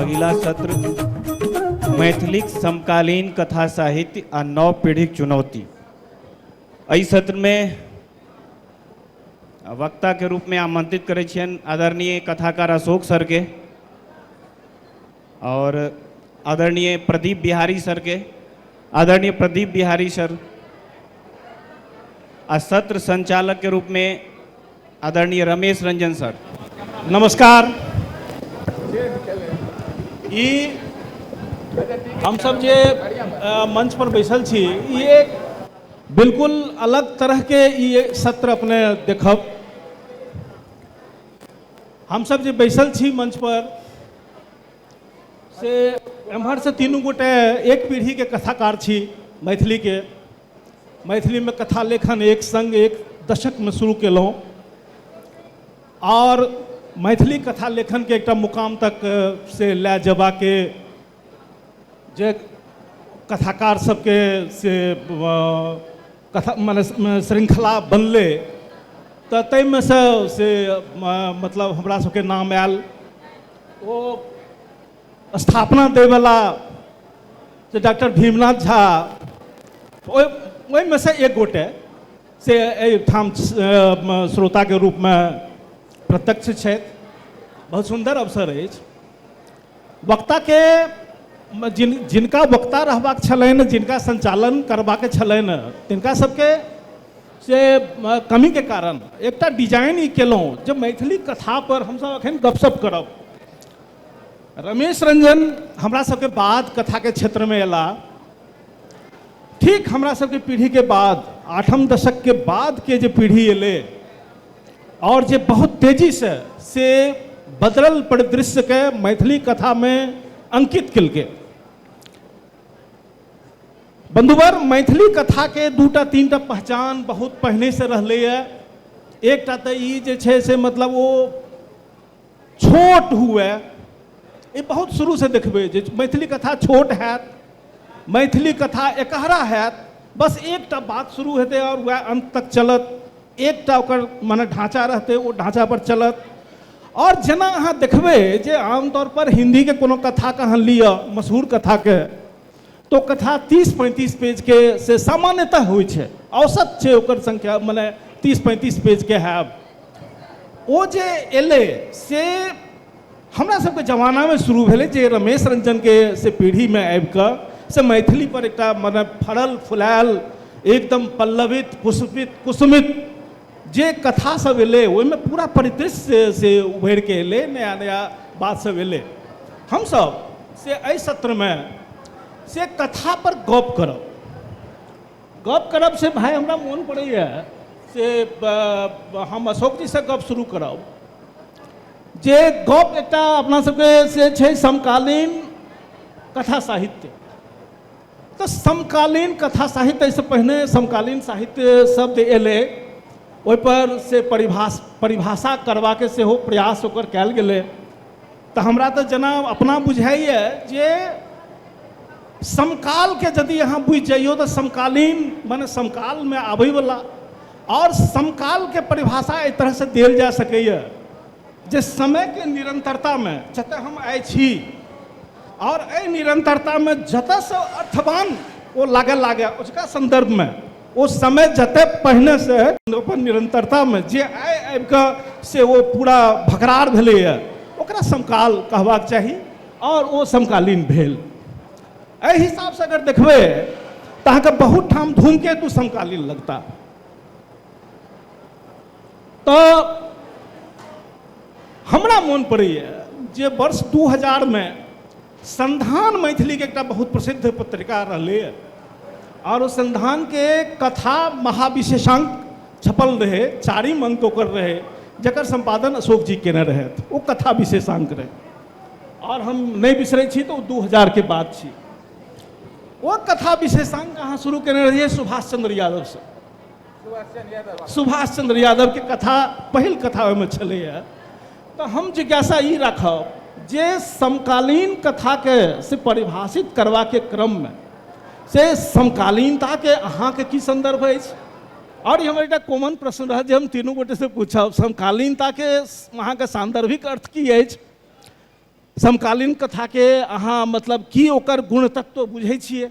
अगिला सत्र मैथिलीक समकालीन कथा साहित्य आ नव पीढ़ीक चुनौती एहि सत्रमे वक्ताके रूपमे आमन्त्रित करै छियनि आदरणीय कथाकार अशोक सरके आओर आदरणीय प्रदीप बिहारी सरके आदरणीय प्रदीप बिहारी सर आ सत्र संचालकके रूपमे आदरणीय रमेश रंजन सर नमस्कार ई हमसब जे अ, मंच पर बैसल छी ई एक बिल्कुल अलग तरह के ई एक सत्र अपने देखब हमसब जे बैसल छी मंच पर से एम्हरसँ तीनू गोटे एक पीढ़ीके कथाकार छी मैथिलीके मैथिलीमे कथा लेखन एक सङ्ग एक दशकमे शुरू केलहुँ आओर मैथिली कथा लेखनके एकटा मुकाम तक से लए जयबाके जे कथाकार सबके से कथा मने श्रृङ्खला बनलै तऽ ताहिमे से से मतलब हमरा सबके नाम आयल ओ स्थापना दैवला से डॉक्टर भीमनाथ झा ओहि ओहिमे से एक गोटे से एहिठाम श्रोताके रूपमे प्रत्यक्ष छथि बहुत सुन्दर अवसर अछि वक्ताके जिन जिनका वक्ता रहबाक छलनि जिनका सञ्चालन करबाक छलनि तिनका सबके से कमीके कारण एकटा डिजाइन ई केलहुँ जे मैथिली कथापर हमसब एखन गपशप करब रमेश रंजन हमरा सबके बाद कथाके क्षेत्रमे अयला ठीक हमरा सबके पीढ़ीके बाद आठम दशकके बादके जे पीढ़ी अयलै आओर जे बहुत तेजीसँ से बदलल परिदृश्यके मैथिली कथामे अंकित केलकै बंधुवर मैथिली कथाके दूटा तीनटा पहचान बहुत पहिनेसँ रहलैए एकटा तऽ ई जे छै से मतलब ओ छोट हुए ई बहुत शुरूसँ देखबै जे मैथिली कथा छोट हैत मैथिली कथा एकहरा हैत बस एकटा बात शुरू हेतै आओर वएह अन्त तक चलत एकटा ओकर मने ढाँचा रहतै ओ ढाँचापर चलत आओर जेना अहाँ देखबै जे आमतौरपर हिन्दीके कोनो कथाके अहाँ लिअ मशहूर कथाके तो कथा तीस पैंतीस पेज के से सामान्यतः होइ छै औसत छै ओकर संख्या मने तीस पैंतीस पेज के हैब ओ जे एलै से हमरा सबके जमानामे शुरू भेलै जे रमेश रंजनके से पीढ़ीमे आबि कऽ से मैथिली पर एकटा मने फड़ल फुलायल एकदम पल्लवित पुष्पित कुसुमित जे कथा सब एलै ओहिमे पूरा परिदृश्य से उभरि कऽ एलै नया नया बात सब एलै हमसब से एहि सत्रमे से कथा पर गप करब गप करब से भाय हमरा मोन पड़ैए से ब- हम अशोक जी से गप शुरू करब जे गप एकटा अपना सबके से छै समकालीन कथा साहित्य तऽ समकालीन कथा साहित्य एहिसँ पहिने समकालीन साहित्य शब्द एलै ओहिपर से परिभाष परिभाषा करबाके सेहो प्रयास ओकर कयल गेलै तऽ हमरा तऽ जेना अपना बुझाइए जे समकालके यदि अहाँ बुझि जाइयो तऽ समकालीन मने समकालमे आबयवला आओर समकालके परिभाषा एहि तरहसँ देल जा सकैए जे समयके निरन्तरतामे जतऽ हम आइ छी आओर एहि निरन्तरतामे जतऽसँ अर्थवान ओ लागऽ लागै ओजका सन्दर्भमे ओ समय जतऽ पहिनेसँ अपन निरन्तरतामे जे आइ आबिकऽ से ओ पूरा भकरार भेलैए ओकरा समकाल कहबाक चाही आओर ओ समकालीन भेल एहि हिसाबसँ अगर देखबै तऽ अहाँके बहुत ठाम धूमकेतु समकालीन लगता तऽ हमरा मोन पड़ैए जे वर्ष दू हजारमे संधान मैथिलीके एकटा बहुत प्रसिद्ध पत्रिका रहलैए आओर ओ संधानके कथा महाविशेषांक छपल रहै चारिम अंक ओकर रहै जकर सम्पादन अशोक जी केने रहथि ओ कथा विशेषांक रहै आओर हम नहि बिसरै छी तऽ ओ दू हजारके बात छी ओ कथा विशेषांक अहाँ शुरू केने रहियै सुभाष चंद्र यादवसँ सुभाष चंद्र यादव के कथा पहिल कथा ओहिमे छलैए तऽ हम जिज्ञासा ई राखब जे समकालीन कथाके से परिभाषित करबाके क्रममे से समकालीनताके अहाँके की संदर्भ अछि आओर ई हमर एकटा कॉमन प्रश्न रहत जे हम तीनू गोटे से पूछब समकालीनताके अहाँके सान्दर्भिक अर्थ की अछि समकालीन कथाके अहाँ मतलब की ओकर गुणतत्व बुझै छियै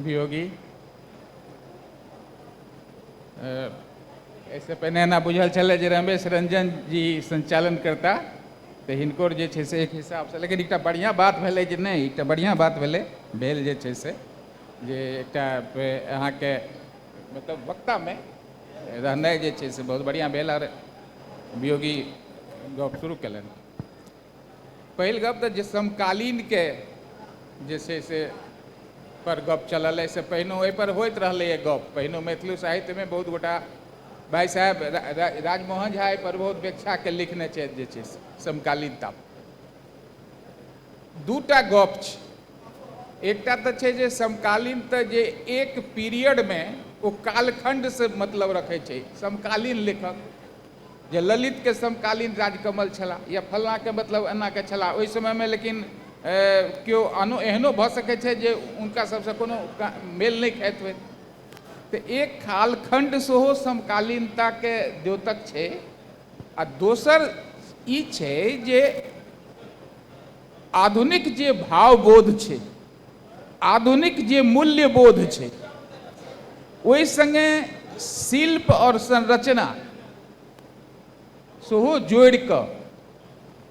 वियोगी एहिसँ पहिने एना बुझल छलै जे रमेश रंजन जी संचालन करता तऽ हिनकर जे छै से एक हिसाबसँ लेकिन एकटा बढ़िआँ बात भेलै जे नहि एकटा बढ़िआँ बात भेलै भेल जे छै से जे एकटा अहाँके मतलब वक्तामे रहनाइ जे छै से बहुत बढ़िआँ भेल आओर वियोगी गप शुरू कयलनि पहिल गप तऽ जे समकालीनके जे छै से पर गप चलल एहिसँ पहिनो एहिपर होइत रहलैए गप पहिनो मैथिली साहित्यमे बहुत गोटा भाय साहेब राजमोहन झा एहिपर बहुत व्याख्याके लिखने छथि जे छै से समकालीनता दूटा गप छै एकटा तऽ छै जे समकालीन तऽ जे एक पीरियडमे ओ कालखण्डसँ मतलब रखै छै समकालीन लेखक जे ललित के समकालीन राजकमल छलाह या फलना के मतलब एना के छलाह ओहि समय मे लेकिन केओ आनो एहनो भऽ सकैत छथि जे हुनका सभसँ कोनो मेल नहि खाइत होय तऽ एक कालखण्ड सेहो समकालीनताके द्योतक छै आ दोसर ई छै जे आधुनिक जे भावबोध छै आधुनिक जे मूल्यबोध छै ओहि सङ्गे शिल्प आओर संरचना सेहो जोड़ि कऽ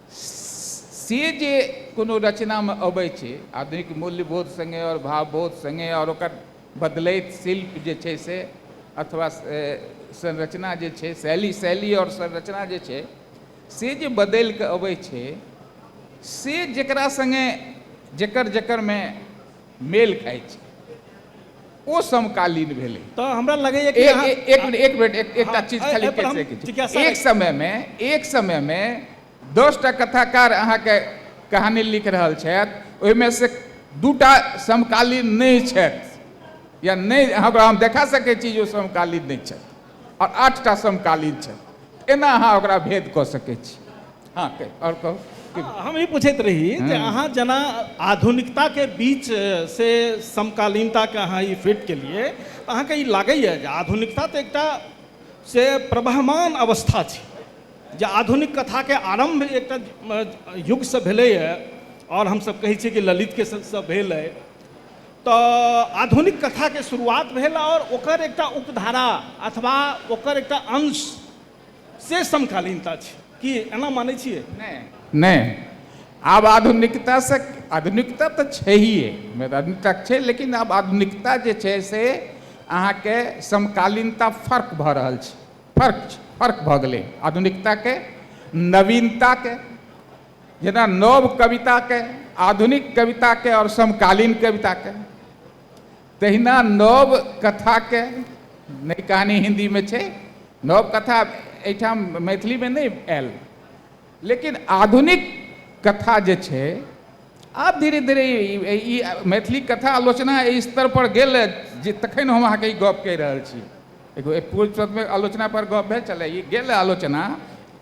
से जे कोनो रचनामे अबै छै आधुनिक मूल्यबोध सङ्गे आओर भावबोध सङ्गे आओर ओकर बदलैत शिल्प जे छै से अथवा संरचना जे छै शैली शैली आओर संरचना जे छै से जे बदलि कऽ अबै छै से जेकरा संगे जेकर जेकर मे मेल खाइ छै ओ समकालीन भेलै तऽ हमरा लगैए कि अहाँ एक मिनट एक मिनट एकटा चीज खाली कहि सकै छी एक समयमे एक समयमे दस टा कथाकार अहाँके कहानी लिख रहल छथि ओहिमे से दूटा समकालीन नहि छथि या नहि हमरा हम देखा सकै छी जे ओ समकालीन नहि छथि आओर आठटा समकालीन छथि एना अहाँ ओकरा भेद कऽ सकै छी हँ आओर कहू हम ई पूछैत रही जे अहाँ जेना आधुनिकताके बीच से समकालीनताके अहाँ ई फिट केलिए तऽ अहाँके ई लागैए जे आधुनिकता तऽ एकटा से प्रवहमान अवस्था छै जे आधुनिक कथाके आरम्भ एकटा युगसँ भेलैए आओर हमसब कहै छिए कि ललितके सबसँ भेल अइ त आधुनिक कथा के शुरुआत भेल आओर ओकर एकटा उपधारा अथवा ओकर एकटा अंश से समकालीनता छी। की एना मानै छियै? नहि, नहि। आब आधुनिकता से, आधुनिकता त छैहे, आधुनिकता छै लेकिन आब आधुनिकता जे छै से अहाँ के समकालीनता फर्क भ रहल छै। फर्क छै, फर्क भ गेलै आधुनिकता के नवीनता के। जेना नव कविताके आधुनिक कविताके आओर समकालीन कविताके तहिना नव कथाके नहि कहानी हिन्दीमे छै नव कथा एहिठाम मैथिलीमे नहि आयल लेकिन आधुनिक कथा जे छै आब धीरे धीरे ई मैथिली कथा आलोचना एहि स्तर पर गेल जे तखन हम अहाँके ई गप कहि रहल छी एगो पूर्व आलोचना पर गप भेल छलै ई गेल आलोचना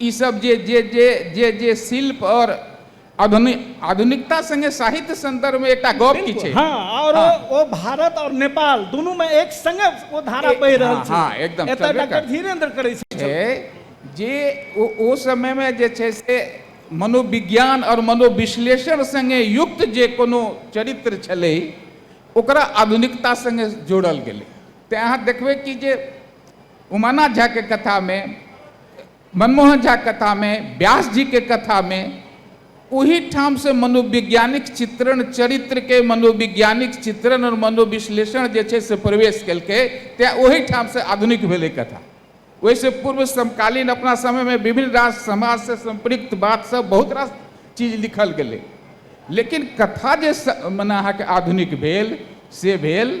ई सब जे जे जे जे जे शिल्प और आधुनि आधुनिकता संगे साहित्य संदर्भ में एकटा गप की बिल्कुल छै। हाँ और ओ ओ भारत और नेपाल दुनू में एक संगे ओ धारा ए- बहि रहल हाँ, छै। हाँ, एकदम, एतय चलबे डॉक्टर कर। धीरेन्द्र करै छल। छै जे ओ ओ समय में जे छै से मनोविज्ञान और मनोविश्लेषण संगे युक्त जे कोनो चरित्र छलै ओकरा आधुनिकता संगे जोड़ल गेलै। तेँ अहाँ देखबै कि जे उमानाथ झा के कथा में मनमोहन झा के कथा में व्यास जी के कथा में ओही ठाम से मनोवैज्ञानिक चित्रण चरित्र के मनोवैज्ञानिक चित्रण और मनोविश्लेषण जे छै से प्रवेश केलकै तैँ ओही ठाम से आधुनिक भेलै कथा ओहिसँ पूर्व समकालीन अपना समयमे विभिन्न रास समाजसँ सम्पृक्त बात सब बहुत रास चीज लिखल गेलै लेकिन कथा जे स मने अहाँके आधुनिक भेल से भेल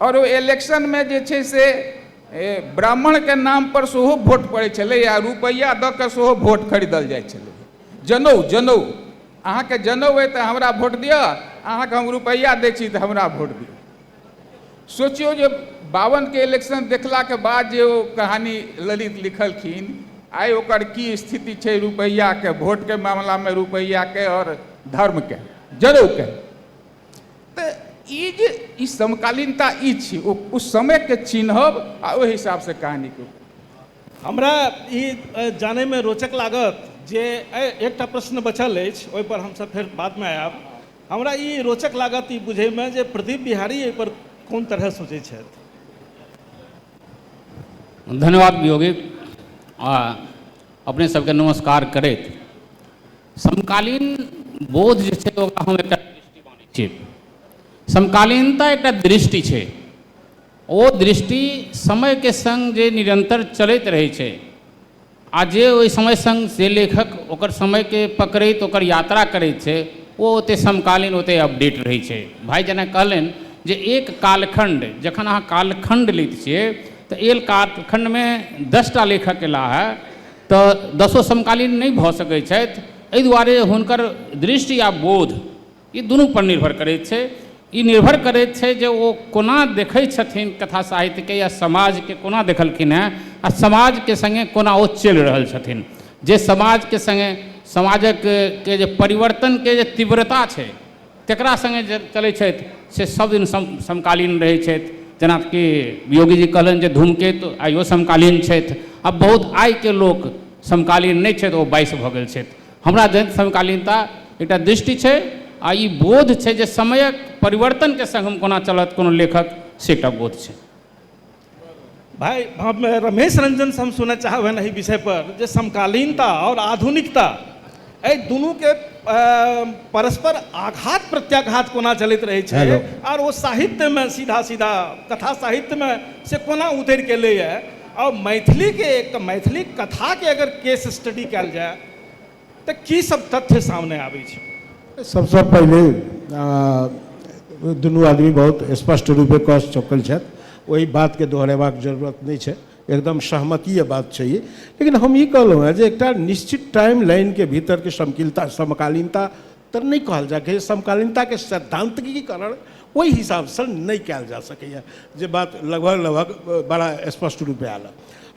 आओर ओ इलेक्शनमे जे छै से ब्राह्मणके नामपर सेहो वोट पड़ै छलै आ रुपैआ दऽ कऽ सेहो वोट खरीदल जाइ छलै जनउ जनउ अहाँके जनउ अइ तऽ हमरा वोट दिअ अहाँके हम रुपैआ दै छी तऽ हमरा वोट दिअ सोचियौ जे बावनके इलेक्शन देखलाके बाद जे ओ कहानी ललित लिखलखिन आइ ओकर की स्थिति छै रुपैआके वोटके मामलामे रुपैआके आओर धर्मके जनउके तऽ ई जे ई समकालीनता ई छी ओ ओ समयके चिन्हब आ ओहि हिसाबसँ कहानीके हमरा ई जानैमे रोचक लागत जे एकटा प्रश्न बचल अछि ओहिपर हमसभ फेर बादमे आयब हमरा ई रोचक लागत ई बुझैमे जे प्रदीप बिहारी एहिपर कोन तरह सोचै छथि धन्यवाद वियोगी आ अपने सभके नमस्कार करैत समकालीन बोध जे छै ओकरा हम एकटा दृष्टि मानै छियै समकालीनता एकटा दृष्टि छै ओ दृष्टि समयके सङ्ग जे निरन्तर चलैत रहै छै आ जे ओहि समय सङ्ग से लेखक ओकर समयके पकड़ैत ओकर यात्रा करैत छै ओ ओतेक समकालीन ओतेक अपडेट रहै छै भाय जेना कहलनि जे एक कालखण्ड जखन अहाँ कालखण्ड लैत छियै तऽ एक कालखण्डमे दस टा लेखक अयला हे तऽ दसो समकालीन नहि भऽ सकै छथि एहि दुआरे हुनकर दृष्टि आ बोध ई दुनू पर निर्भर करै छै ई निर्भर करै छै जे ओ कोना देखै छथिन कथा साहित्य के या समाज के कोना देखलखिन हेँ आ समाज के संगे कोना ओ चलि रहल छथिन जे समाज के संगे समाजक के जे परिवर्तन के जे तीव्रता छै केकरा सङ्गे जे चलै छथि से सब दिन सम समकालीन रहै छथि जेनाकि योगी जी कहलनि जे धूमकेतु आइयो समकालीन छथि आ बहुत आइके लोक समकालीन नहि छथि ओ बाइस भऽ गेल छथि हमरा जन समकालीनता एकटा दृष्टि छै आ ई बोध छै जे समयक परिवर्तनके सङ्ग हम कोना चलत कोनो लेखक से एकटा बोध छै भाई हम रमेश रंजन से हम सुनय चाहब एहि विषय पर जे समकालीनता और आधुनिकता एहि दुनू के परस्पर आघात प्रत्याघात कोना चलैत रहै छै और ओ साहित्य में सीधा सीधा कथा साहित्य में से कोना उतरि के एलैए और मैथिली के एक मैथिली कथा के अगर केस स्टडी कयल जाय तऽ की सब तथ्य सामने आबै छै सबसँ पहिले दुनू आदमी बहुत स्पष्ट रूपे कऽ चुकल छथि ओहि बातके दोहरेबाक जरूरत नहि छै एकदम सहमतीय बात छै ई लेकिन हम ई कहलहुँ हँ जे एकटा निश्चित टाइम लाइनके भीतरके समकिलता समकालीनता तऽ नहि कहल जाय जे समकालीनताके सैद्धांतिकीकरण ओहि हिसाबसँ नहि कयल जा सकैए जे बात लगभग लगभग बड़ा स्पष्ट रूपे आयल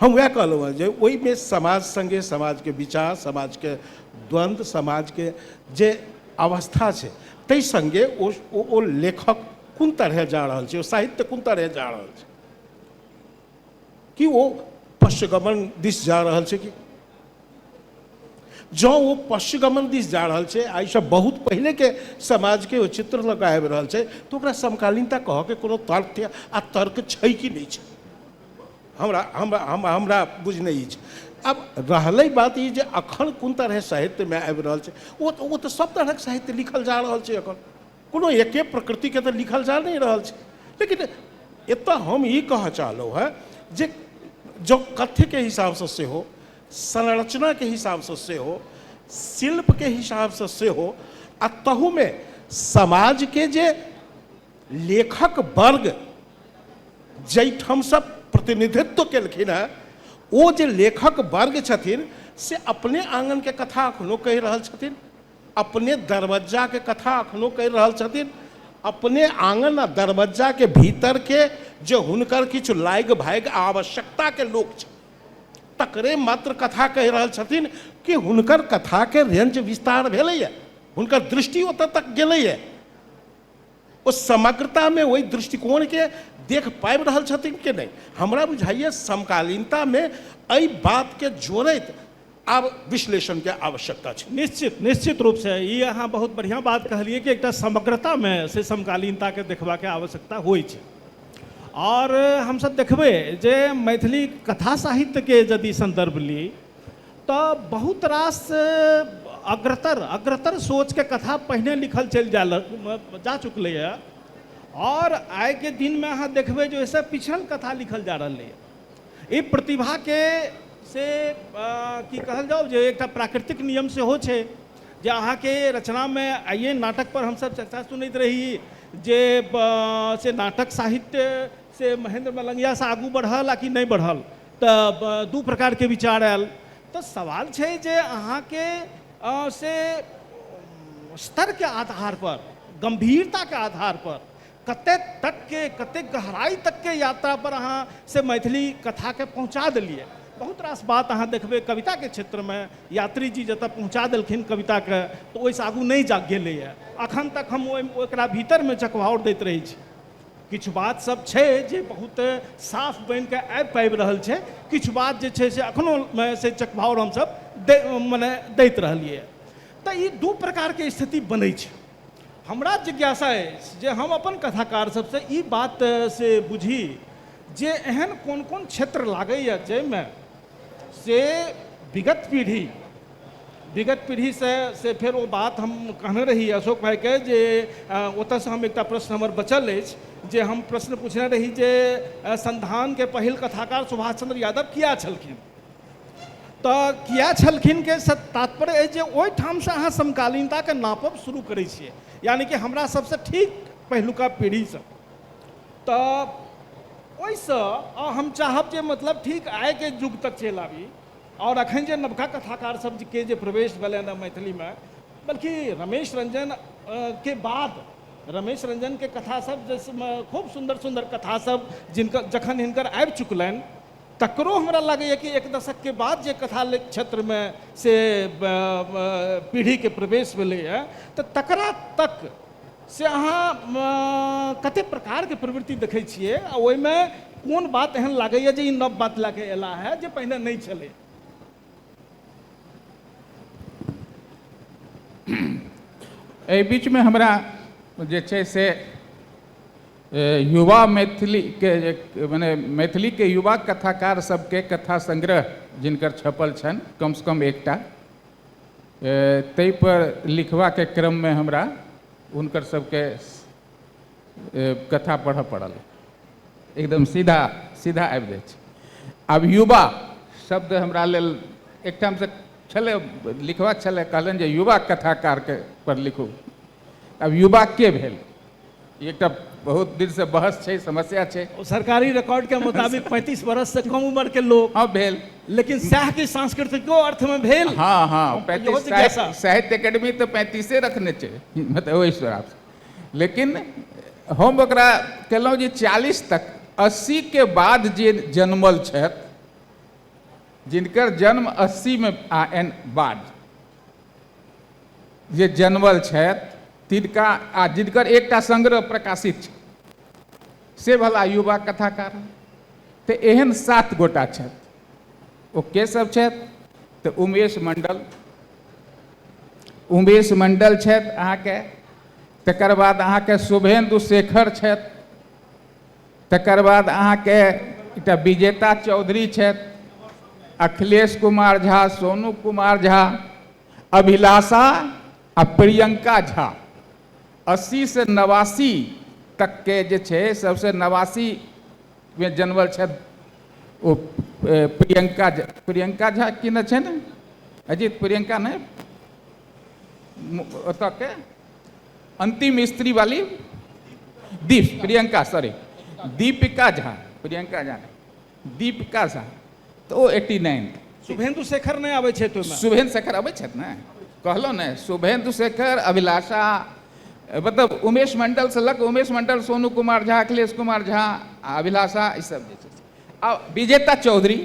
हम वएह कहलहुँ हँ जे ओहिमे समाज सङ्गे समाजके विचार समाजके द्वन्द्व समाजके जे अवस्था छै ताहि सङ्गे ओ ओ लेखक कोन तरहे जा रहल छै ओ साहित्य कोन तरहे जा रहल छै कि ओ पश्चगमन दिस जा रहल छै कि जँ ओ पश्चगमन दिस जा रहल छै आ ईसभ बहुत पहिलेके समाजके ओ चित्र लऽ कऽ आबि रहल छै तऽ ओकरा समकालीनता कहऽके कोनो तथ्य आ तर्क छै कि नहि छै हमरा हमरा हमरा बुझ नहि अछि आब रहलै बात ई जे एखन कोन तरहे साहित्यमे आबि रहल छै ओ तऽ ओ तऽ सभ तरहक साहित्य लिखल जा रहल छै एखन कोनो एके प्रकृतिके तऽ लिखल जा नहि रहल छै लेकिन एतऽ हम ई कहऽ चाहलहुँ हँ जे जँ कथ्यके हिसाबसँ सेहो संरचनाके हिसाबसँ सेहो शिल्पके हिसाबसँ सेहो आ तहूमे समाजके जे लेखक वर्ग जाहिठामसँ प्रतिनिधित्व केलखिन हँ ओ जे लेखक वर्ग छथिन से अपने आङ्गनके कथा एखनो कहि रहल छथिन अपने दरवज्जाके कथा एखनो कहि रहल छथिन अपने आँगन आ दरवज्जाके भीतरके जे हुनकर किछु लागि भागि आवश्यकताके लोक छथि तकरे मात्र कथा कहि रहल छथिन कि हुनकर कथाके रेंज विस्तार भेलैए हुनकर दृष्टि ओतऽ तक गेलैए ओ समग्रतामे ओहि दृष्टिकोणके देख पाबि रहल छथिन कि नहि हमरा बुझाइए समकालीनतामे एहि बातके जोड़ैत आब विश्लेषणके आवश्यकता छै। निश्चित, निश्चित रूपसँ ई अहाँ बहुत बढ़िआँ बात कहलियै कि एकटा समग्रतामे से समकालीनताके देखबाके आवश्यकता होइत छै। आओर हमसभ देखबै जे मैथिली कथा साहित्यके यदि सन्दर्भ ली तऽ बहुत रास अग्रतर, अग्रतर सोचके कथा पहिने लिखल चलि जाय लग, जा चुकलैए आओर आइके दिनमे अहाँ देखबै जे ओहिसँ पिछड़ल कथा लिखल जा रहलैए। एहि प्रतिभाके से की कहल जाउ जे एकटा प्राकृतिक नियम सेहो छै जे अहाँके रचनामे आइए नाटकपर हमसभ चर्चा सुनैत रही जे से नाटक साहित्य से महेन्द्र मलंगियासँ आगू बढ़ल आ कि नहि बढ़ल तऽ दू प्रकारके विचार आयल तऽ सवाल छै जे अहाँके से स्तरके आधारपर गम्भीरताके आधारपर कतेक तकके कतेक गहराइ तकके यात्रापर अहाँ से मैथिली कथाके पहुँचा देलिए बहुत रास बात अहाँ देखबै कविताके क्षेत्रमे यात्रीजी जतऽ पहुँचा देलखिन कविताके तऽ ओहिसँ आगू नहि जा गेलैए अखन तक हम ओहि ओकरा भीतरमे चकवाओर दैत रहै छी किछु बात सब छै जे बहुत साफ बनिके आबि पाबि रहल छै किछु बात जे छै से अखनो से चकवाओर हमसब दै मने दैत रहलिए तऽ ई दू प्रकारके स्थिति बनै छै हमरा जिज्ञासा अछि जे हम अपन कथाकार सबसँ ई बात से बुझी जे एहन कोन कोन क्षेत्र लागैए जाहिमे से विगत पीढ़ी विगत पीढ़ीसँ से फेर ओ बात हम कहने रही अशोक भाइके जे ओतऽसँ हम एकटा प्रश्न हमर बचल अछि जे हम प्रश्न पुछने रही जे संधानके पहिल कथाकार सुभाष चन्द्र यादव किएक छलखिन तऽ किए छलखिन के से तात्पर्य अछि जे ओहिठामसँ अहाँ समकालीनताके नापब शुरू करै छियै यानि कि हमरा सभसँ ठीक पहिलुका पीढ़ीसँ तऽ ओहिसँ हम चाहब जे मतलब ठीक आइके युग तक चलि आबी आओर अखन जे नवका कथाकार सभके जे प्रवेश भेलनि हँ मैथिलीमे बल्कि रमेश रंजन के बाद रमेश रंजनके कथा सभ जाहिमे खूब सुन्दर सुन्दर कथा सभ जिनकर जखन हिनकर आबि चुकलनि तकरो हमरा लागैए कि एक दशकके बाद जे कथा क्षेत्रमे से पीढ़ीके प्रवेश भेलैए तऽ तकरा तक से अहाँ कतेक प्रकारके प्रवृत्ति देखै छियै आ ओहिमे कोन बात एहन लागैए जे ई नव बात लए कऽ अयला है जे पहिने नहि छलै एहि बीचमे हमरा जे छै से युवा मैथिलीके जे मने मैथिलीके युवा कथाकार सबके कथा संग्रह जिनकर छपल छनि कमसँ कम एकटा ताहि पर लिखबाके क्रममे हमरा हुनकर सबके कथा पढ़ऽ पड़ल एकदम सीधा सीधा आबि जाइ छै आब युवा शब्द हमरा लेल एकठामसँ छलै लिखबाक छलै कहलनि जे युवा कथाकारके पर लिखू अब युवा के भेल ई एकटा बहुत दिन से बहस छै समस्या छै सरकारी रिकॉर्ड के मुताबिक 35 बरस से कम उम्र के लोग हाँ भेल लेकिन सएह की सांस्कृतिको अर्थ में भेल हाँ हाँ इहो पैंतीस जिज्ञासा। साहित्य साहित्य एकेडमी तो पैंतीसे रखने छै मतलब ओहि हिसाब से लेकिन हम ओकरा केलहुँ जे चालीस तक अस्सी के बाद जे जनमल छथि जिनकर जन्म अस्सी में आ एन बाद जे जनवल छथि तिनका आ जिनकर एकटा संग्रह प्रकाशित छै से भला युवा कथाकार तऽ एहन सात गोटा छथि ओ के सब छथि तऽ उमेश मंडल उमेश मंडल छथि अहाँके तकर बाद अहाँके शुभेन्दु शेखर छथि तकर बाद अहाँके एकटा विजेता चौधरी छथि अखिलेश कुमार झा सोनू कुमार झा अभिलाषा आ प्रियंका झा अस्सी से नवासी तकके जे छै सभसँ नवासीमे जनमल छथि ओ प्रियंका झा प्रियंका झा की ने छै ने अजीत प्रियंका नहि ओतऽके अंतिम स्त्री वाली दीप प्रियंका सॉरी दीपिका झा प्रियंका झा दीपिका झा तऽ ओ एट्टी नाइन शुभेन्दु शेखर नहि आबै छै शुभेन्दु शेखर अबै छथि ने कहलहुँ ने शुभेन्दु शेखर अभिलाषा मतलब उमेश मंडलसँ लऽ कऽ उमेश मंडल सोनू कुमार झा अखिलेश कुमार झा आ अभिलाषा ई सब जे छै आ विजेता चौधरी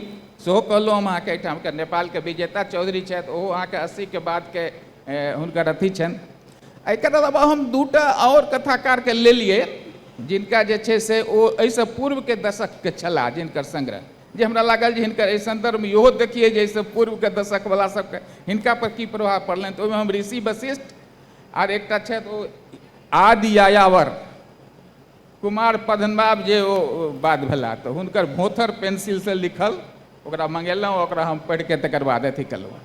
सेहो कहलहुँ हम अहाँके एहिठामके नेपालके विजेता चौधरी छथि ओहो अहाँके अस्सीके बादके हुनकर अथी छनि एकर अलावा हम दूटा आओर कथाकारके लेलिए जिनका जे छै से ओ एहिसँ पूर्वके दशकके छलाह जिनकर सङ्ग्रह जे हमरा लागल जे हिनकर एहि सन्दर्भमे इहो देखिए जे एहिसँ पूर्वके दशकवला सभके हिनकापर की प्रभाव पड़लनि तऽ ओहिमे हम ऋषि वशिष्ठ आर एकटा छथि ओ आदि यायावर कुमार पद्मनाभ जे ओ बात भेला तऽ हुनकर भोथर पेंसिलसँ लिखल ओकरा मंगेलहुँ ओकरा हम पढ़िके तकर बाद अथी केलहुँ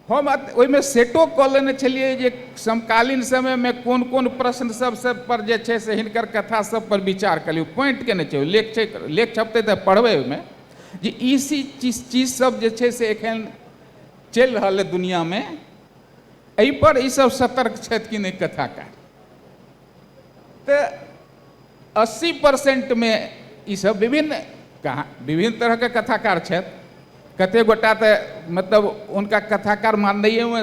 हम ओहिमे सेटो कऽ लेने छलियै जे समकालीन समयमे कोन कोन प्रश्न सब सब पर जे छै से हिनकर कथा सब पर विचार करियौ पॉइंट केने छै लेख छै लेख छपतै तऽ पढ़बै ओहिमे जे ई चीज चीज सब जे छै से एखन चलि रहल अइ दुनियामे एहिपर ई सब सतर्क छथि कि नहि कथाकार तऽ अस्सी परसेन्टमे ई सभ विभिन्न कहाँ विभिन्न तरहके कथाकार छथि कतेक गोटा तऽ मतलब हुनका कथाकार माननाइयोमे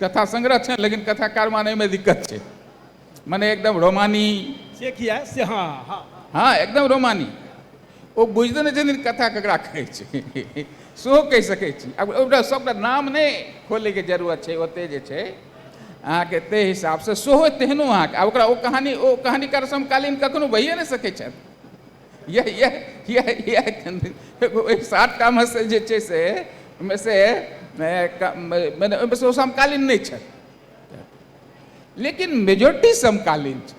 कथा सङ्ग्रह छनि लेकिन कथाकार मानैमे दिक्कत छै मने एकदम रोमानी से किया से हँ हँ हँ हँ एकदम रोमानी ओ बुझिते नहि छथिन कथा ककरा कहै छै सेहो कहि सकै छी आब ओकरा सभटा नाम नहि खोलैके जरूरत छै ओतेक जे छै अहाँके ताहि हिसाबसँ सेहो तेहनो अहाँके आ ओकरा ओ कहानी ओ कहानीकार समकालीन कखनो भइए नहि सकै छथि यह यह यह यह ओहि सातटामे से जे छै से ओहिमे से मने ओहिमे से ओ समकालीन नहि छथि लेकिन मेजोरिटी समकालीन छै